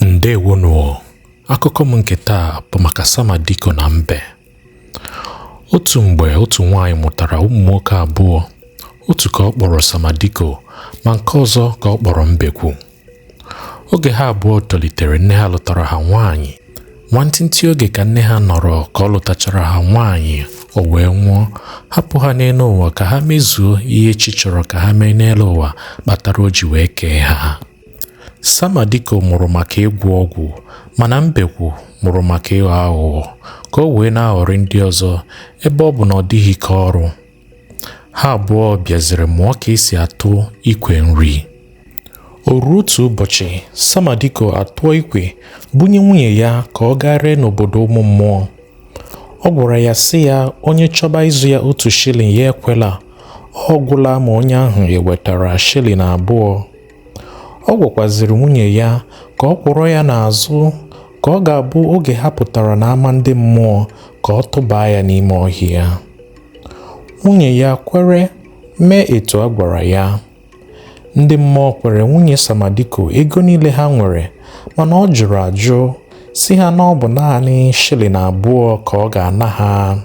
ndewonụ akụkọ m nke taa bụ maka samadiko na mbe otu mgbe otu nwaanyị mụtara ụmụ nwoke abụọ otu ka ọ kpọrọ samadiko ma nke ọzọ ka ọ kpọrọ mbekwu oge ha abụọ tolitere nne ha lụtara ha nwaanyị Nwantịntị oge ka nne ha nọrọ ka ọ lụtachara ha nwaanyị, o wee nwụọ, hapụ ha n'elu ụwa ka ha mezuo ihe chi chọrọ ka ha mee n'elu ụwa kpatara o ji wee kee ha. Samadiko mụrụ maka ịgwọ ọgwụ, mana Mbekwu mụrụ maka ịghọ aghụghọ ka o wee na-aghọrị ndị ọzọ ebe ọ bụ na ọ dịghị ike ọrụ. ha abụọ bịaziri mụọ ka e si atụ ikwe nri o ruo otu ụbọchị samadiko atụọ ikwe bunye nwunye ya ka ọ gaa ree n'obodo ụmụ mmụọ ọ gwara ya sị ya onye chọba ịzụ ya otu shilling ya ekwela ọ gwụla ma onye ahụ ewetara shilling abụọ ọ gwakwaziri nwunye ya ka ọ kwọrọ ya n'azụ ka ọ ga-abụ oge ha pụtara n'ama ndị mmụọ ka ọ tụbaa ya n'ime ọhịa Nwunye ya kwere mee etu a gwara ya. Ndị mmụọ kwere nwunye Samadiko ego niile ha nwere mana ọ jụrụ ajụ sị ha na ọ bụ naanị shilling abụọ ka ọ ga-ana ha.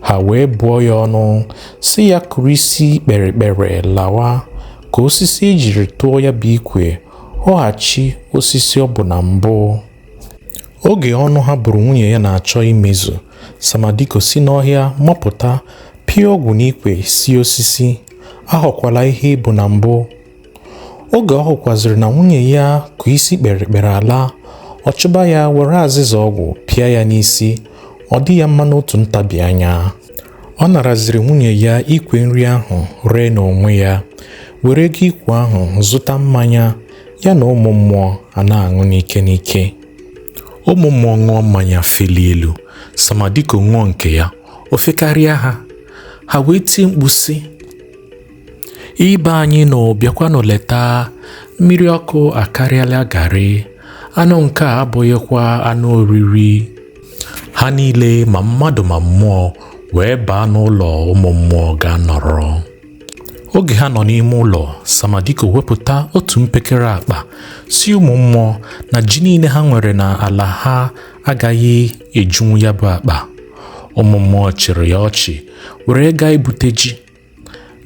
Ha wee bụọ ya ọnụ sị ya kụrụ isi kpere kpere lawa ka osisi e jiri tụọ ya bụ ikwe ghọghachi osisi ọ bụ na mbụ. Oge ọnụ ha bụrụ nwunye ya na-achọ imezu, Samadiko si n'ọhịa mapụta, pịa ọgwụ n'ikwe sị osisi, aghọkwala ihe ị bụ na mbụ. Oge ọ hụkwaziri na nwunye ya kụ isi kpere kpere ala, ọ chụba ya were azịza ọgwụ pịa ya n'isi, ọ dị ya mma n'otu ntabi anya. Ọ naraziri nwunye ya ikwe nri ahụ ree n'onwe ya, were ego ikwe ahụ zụta mmanya. ya na ụmụ mmụọ a na-aṅụ n'ike n'ike ụmụ mmụọ ṅụọ mmanya feli elu samadiko ṅụọ nke ya o fekarịa ha ha wee tie mkpu sị ibe anyị nọ bịakwanụ leta mmiri ọkụ akarịala garị anụ nke a abụghịkwa anụ oriri ha niile ma mmadụ ma mmụọ wee baa n'ụlọ ụmụ mmụọ ga nọrọ oge ha nọ n'ime ụlọ samadiko wepụta otu mpekere akpa sị ụmụ mmụọ na ji niile ha nwere na ala ha agaghị ejunwu ya bụ akpa ụmụ mmụọ chịrị ya ọchị were gaa ibute ji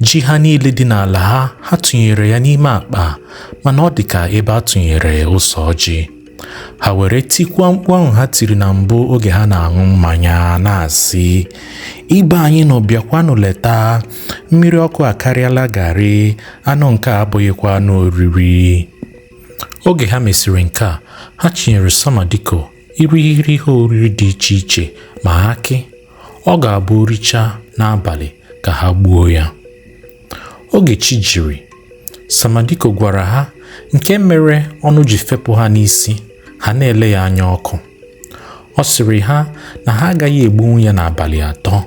ji ha niile dị n'ala ha ha tụnyere ya n'ime akpa mana ọ dị ka ebe a tụnyere ụsọ ọjị ha were tikwa mkpu ahụ ha tiri na mbụ oge ha na-aṅụ mmanya na-asị ibe anyị nụ bịakwanụ leta mmiri ọkụ akarịala garị anụ nke a abụghịkwa anụ oriri oge ha mesịrị nke a ha chinyere samadiko irighiri ihe oriri dị iche iche ma akị ọ ga-abụ o richaa n'abalị ka ha gbuo ya Oge chi jiri, Samadiko gwara ha nke mere ọnụ ji fepụ ha n'isi, ha na-ele ya anya ọkụ. Ọ sịrị ha na ha agaghị egbunwu ya n'abalị atọ.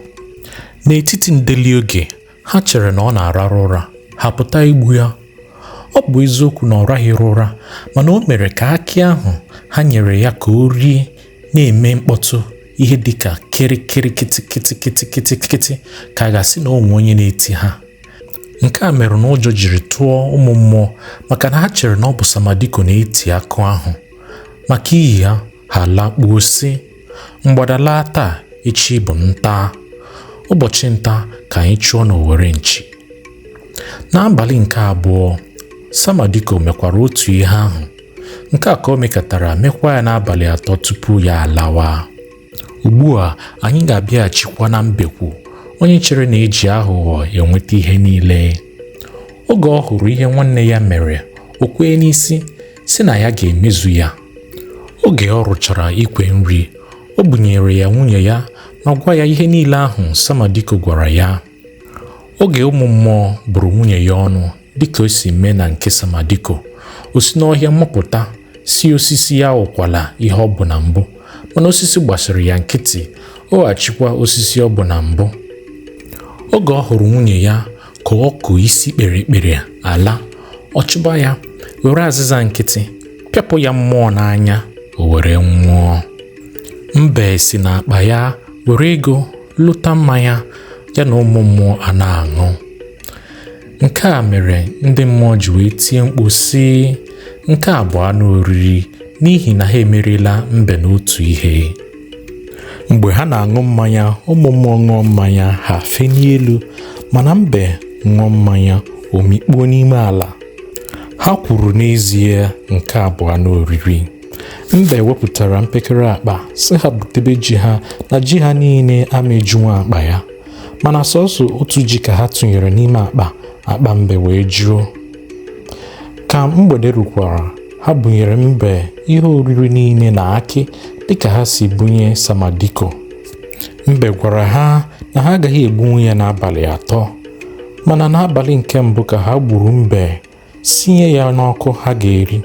N'etiti ndeli, oge ha chere na ọ na-ararụ ụra, ha pụta igbu ya. Ọ bụ eziokwu na ọ rahịrị ụra, mana o mere ka akị ahụ ha nyere ya ka o rie na-eme mkpọtụ ihe dị ka kịrịkịrị kịtịkịtịkịtịkịtịkịtị ka a ga-asị na o nwe onye na-eti ha nke a mere na ụjọ jiri tụọ ụmụ mmụọ maka na ha chere na ọ bụ samadiko na-eti akụ ahụ maka ihi ya ha alakpuo sị mgbada laa taa echi bụ nta ụbọchị nta ka anyị chụọ n'owere nchi n'abalị nke abụọ samadiko mekwara otu ihe ahụ Nke a ka o mekatara mekwa ya n'abalị atọ tupu ya alawa. Ugbu a anyị ga-abịaghachikwa na mbekwu onye chere na e ji aghụghọ enweta ihe niile. Oge ọ hụrụ ihe nwanne ya mere, o kwee n'isi sị na ya ga-emezu ya. Oge ọ rụchara ikwe nri, o bunyere ya nwunye ya ma gwa ya ihe niile ahụ Samadiko gwara ya. Oge ụmụ mmụọ bụrụ nwunye ya ọnụ dịka o si mee na nke Samadiko, o si n'ọhịa mapụta sị osisi ya abụkwala ihe ọ bụ na mbụ, mana osisi gbasiri ya nkịtị, ọ ghachikwa osisi ọ bụ na mbụ. Oge ọ hụrụ nwunye ya ka ọ kụ isi kpere kpere ala, ọ chụba ya, were azịza nkịtị pịapụ ya mmụọ n'anya, o were nwụọ. Mbe si n'akpa ya were ego lụta mmanya ya na ụmụ mmụọ a na-aṅụ nke a mere ndị mmụọ ji wee tie mkpu sị nke a bụ anụ oriri n'ihi na ha emeriela mbe n'otu ihe mgbe ha na-aṅụ mmanya ụmụ mmụọ ṅụọ mmanya ha fenie elu mana mbe ṅụọ mmanya o mikpuo n'ime ala ha kwuru n'ezie nke a bụ anụ oriri Mbe wepụtara mpekere akpa sị ha butebe ji ha na ji ha niile ama ejunwu akpa ya. Mana sọsọ otu ji ka ha tụnyere n'ime akpa, akpa mbe wee juo. Ka mgbede rukwara, ha bunyere mbe ihe oriri niile na akị dịka ha si bunye Samadiko. Mbe gwara ha na ha agaghị egbunwu ya n'abalị atọ. Mana n'abalị nke mbụ ka ha gburu mbe, sinye ya n'ọkụ ha ga-eri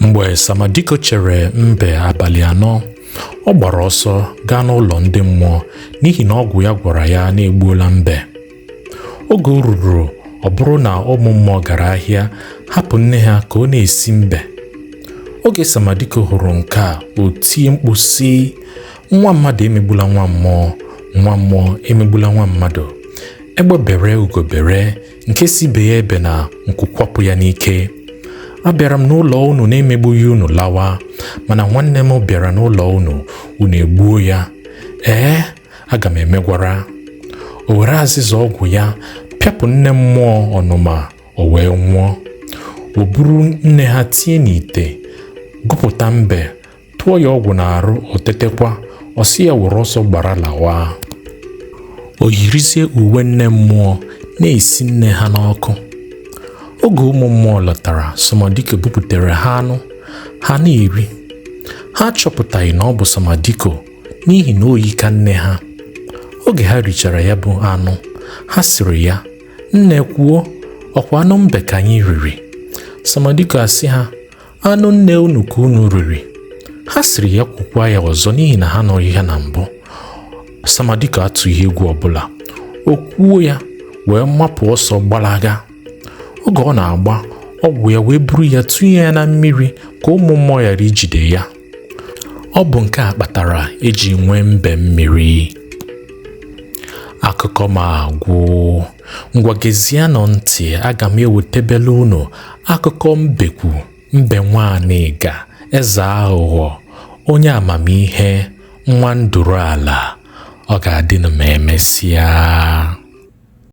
mgbe samadiko chere mbe abalị anọ ọ gbara ọsọ gaa n'ụlọ ndị mmụọ n'ihi na ọgwụ ya gwara ya na e gbuola mbe oge o ruru ọ bụrụ na ụmụ mmụọ gara ahịa hapụ nne ha ka ọ na-esi mbe oge samadiko hụrụ nke a o tie mkpu sị nwa mmadụ emegbula nwa mmụọ nwa mmụọ emegbula nwa mmadụ egbe bere ugo bere nke sị ibe ya ebena nku kwapụ ya n'ike abịara m n'ụlọ unu na-emegbughị unu lawa mana nwanne m bịara n'ụlọ unu unu egbuo ya ee aga m emegwara o were azịza ọgwụ ya pịapụ nne mmụọ ọnụma o wee nwụọ o buru nne ha tie n'ite gụpụta mbe tụọ ya ọgwụ n'arụ o tetekwa ọ sị ya were ọsọ gbara lawa o yirizie uwe nne mmụọ na-esi nne ha n'ọkụ oge ụmụ mmụọ lọtara Samadiko buputere ha anụ ha na-eri ha achọpụtaghị na ọ bụ Samadiko n'ihi na o yi ka nne ha oge ha richara ya bụ anụ ha sịrị ya nne kwuo ọkwa anụ mbe ka anyị riri Samadiko asị ha anụ nne unu ka unu riri ha sịrị ya kwukwa ya ọzọ n'ihi na ha anụghị ya na mbụ samadiko atụghị egwu ọbụla o kwuo ya wee mapụ ọsọ gbalaga oge ọ na-agba ọgwụ ya wee buru ya tụnye ya na mmiri ka ụmụ mmụọ ghara ijide ya Ọ bụ nke a kpatara e ji nwee mbe mmiri. Akụkọ m agwụ. Ngwa gezienụ ntị, aga m ewetebele unu akụkọ mbekwu mbe nwa anịga eze aghụghọ onye amamihe nwa nduru ala. Ọ ga-adịnụ ma emesịa.